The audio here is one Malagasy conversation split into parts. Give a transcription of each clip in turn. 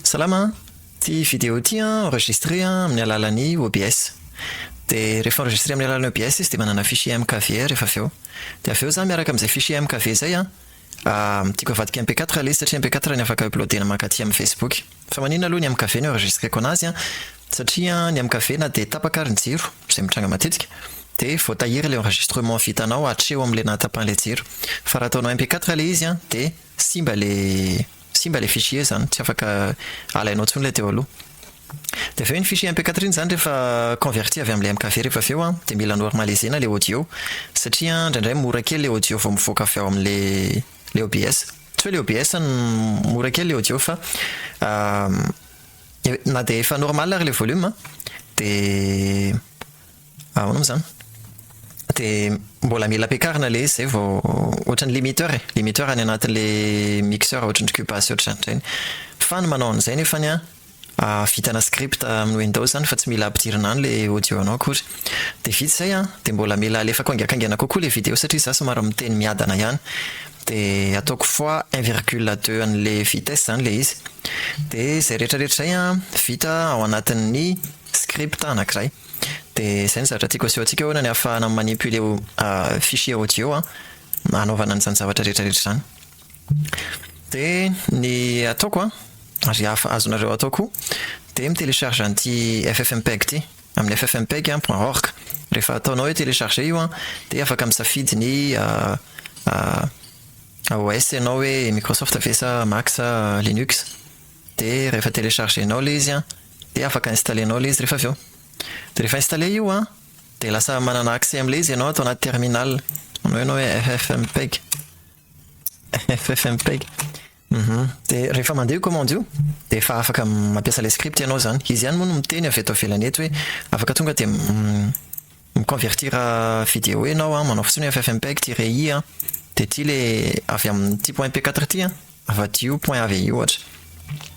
Salama an! Ity video ity an enregistré an amin'ny alalan'ny OBS. Dia rehefa enregistré amin'ny alalan'ny OBS izy dia manana fichier mkv rehefa avy eo. Dia avy eo za miaraka amin'izay fichier mkv izay an, tiako avadika mp quatre ilay izy satria mp quatre no afaka uploader-na mankaty amin'ny facebook. Fa maninona aloha ny mkv no enregistreko anazy an, satria ny mkv na dia tapaka ary ny jiro, izay mitranga matetika, dia voatahiry ilay enregistrement vitanao hatreo amin'ilay nahatapahan'ilay jiro. Fa raha ataonao mp quatre ilay izy an dia simba ilay. Simba ilay fichier zany tsy afaka alainao intsony ilay teo aloha. Dia avy eo iny fichier MP quatre iny zany rehefa converti avy amin'ilay MKV rehefa avy eo an, dia mila normaliser-na ilay audio. Satria indraindray mora kely ilay audio vao mivoaka avy ao amin'ilay OBS. Tsy hoe ilay OBS no mora kely ilay audio fa na dia efa normal ary ilay volume an, dia. Ahoana moa izany? Dia mbola mila ampiakarina ilay izy izay vao ohatran'ny limiteur e, limiteur any anatin'ilay mixeur ohatran'ny cuba sy ohatr'izany ireny. Fa ny manao an'izay nefany an, vitana script amin'ny windows any fa tsy mila ampidirina any ilay audio anao akory. Dia vita izay an, dia mbola mila alefako haingankaingana kokoa ilay video satria za somary miteny miadana ihany. Dia ataoko fois un virgule deux an'ilay vitesse izany ilay izy. Dia izay rehetrarehetra izay an, vita ao anatin'ny script anakiray. Dia izay ny zavatra tiako aseho antsika ahoana ny ahafahana mi-manipuler fichier audio hanaovana an'izany zavatra rehetra rehetra izany. Dia ny ataoko an, ary azonareo atao koa, dia mi-telecharge an'ity ffmpeg ity, amin'ny ffmpeg point org. Rehefa ataonao hoe telecharger io an, dia afaka misafidy ny OS ianao hoe Microsoft ve sa Mac sa Linux. Dia rehefa telecharger-nao ilay izy an. Dia afaka installer-nao ilay izy rehefa avy eo. Dia rehefa installer io an, dia lasa manana accès amin'ilay izy ianao ato anaty terminal. Manao ianao hoe ffmpeg. Ffmpeg. Uhum. Dia rehefa mandeha io commande io, dia efa afaka mampiasa ilay script ianao izany. Izy ihany moa no miteny avy eto ivelany eto hoe afaka tonga dia mi-convertir vidéo ianao an, manao fotsiny hoe ffmpeg-i an, dia ity ilay avy amin'ity point p4 ity an. Avadio point avy eo ohatra.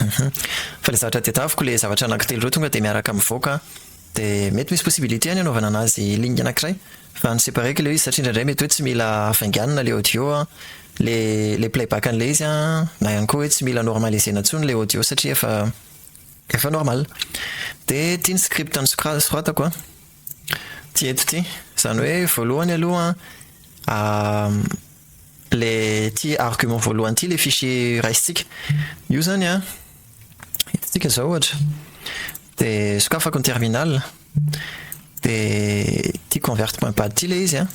Hum fa le zavatra tedaviko le zavatra anaky telo reo tonga de miaraka mivoaka de mety misy possibilité any anaovana anazy ligne anakiray fa ny separeko le izy satria indraindray mety hoe tsy mila hafainganina le audio an le le play back anle izy an na ihany koa hoe tsy mila normaliser-na tsony le audio satria efa efa normal de ty ny script nosoratako an ty eto ty zany hoe voalohany aloha an Le ty argument voalohany ty le fichier raisintsika io zany an, hitantsika zao ohatra de sokafako ny terminal de ty convert point bat ty le izy an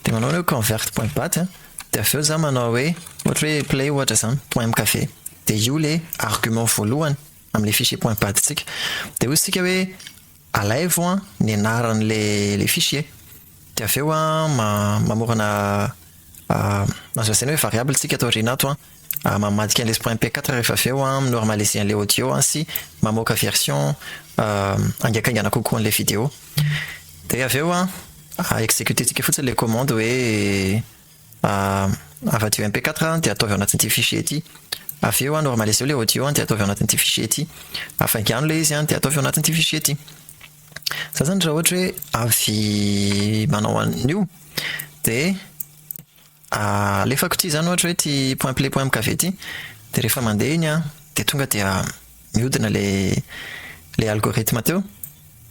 de manao hoe convert point bat an de avy eo za manao hoe ohatra hoe play ohatra zany point mkv de io le argument voalohany amle fichier point bat tsika de ozy tsika hoe Alaivo an ny anaran le le fiche e de avy eo an ma mamorona azo lazaina hoe variable tsika ato aoriana ato an, mamadika anle spray mp quatre rehefa avy eo an mi normaliser anle audio an sy mamoaka version haingankaingana kokoa anle video de avy eo an executer tsika fotsiny le commande hoe. Avadiho MP4 dia ataovy ao anatin'ity fichier ity. Avy eo normaliseo ilay audio dia ataovy ao anatin'ity fichier ity. Afaingano ilay izy dia ataovy ao anatin'ity fichier ity. Izay izany raha ohatra hoe avy manao an'io. Dia alefako ity izany ohatra hoe ity point play point mkv ity. Dia rehefa mandeha iny an, dia tonga dia mihodina ilay algorithme teo.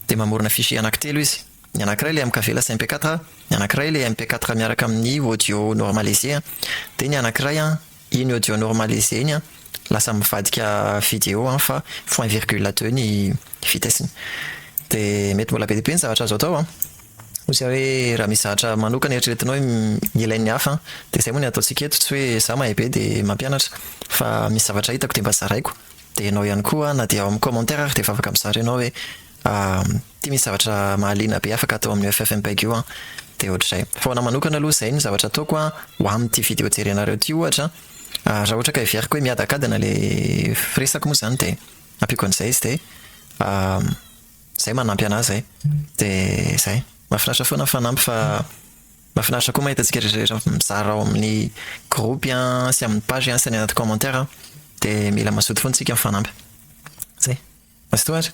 Dia mamorona fichier anankitelo izy. Ny anankiray ilay MKV lasa MP quatre, ny anankiray ilay MP quatre miaraka amin'ny audio normalisé an, dia ny anankiray an, iny audio normalisé iny an, lasa mivadika vidéo an fa point virgule deux ny vitesse-ny. Dia mety mbola be dia be ny zavatra azo atao an! Hoy za hoe raha misy zavatra manokana eritreretinao hoe ilain'ny hafa an, dia izay moa ny ataontsika eto, tsy hoe za mahay be dia mampianatra, fa misy zavatra hitako dia mba zaraiko, dia ianao ihany koa an, na dia ao amin'ny commentaire ary dia efa afaka mizara ianao hoe Ah, ty misy zavatra mahaliana be afaka atao amin'io ffmpeg io an! Dia ohatr'izay. Fa ho anà manokana aloha izay no zavatra ataoko an, ho amin'ity video jerenareo ity ohatra an, ah raha ohatra ka heveriko hoe miadakadana ilay firesako moa izany dia ampiako an'izay izy dia ah izay manampy anà izay. Dia izay. Mahafinaritra foana ny fanampy fa mahafinaritra koa mahita antsika rehetrarehetra mizara ao amin'ny gropy an, sy amin'ny page an, sy any anaty commentaire an. Dia mila mazoto foana isika mifanampy. Izay. Mazotoa ary!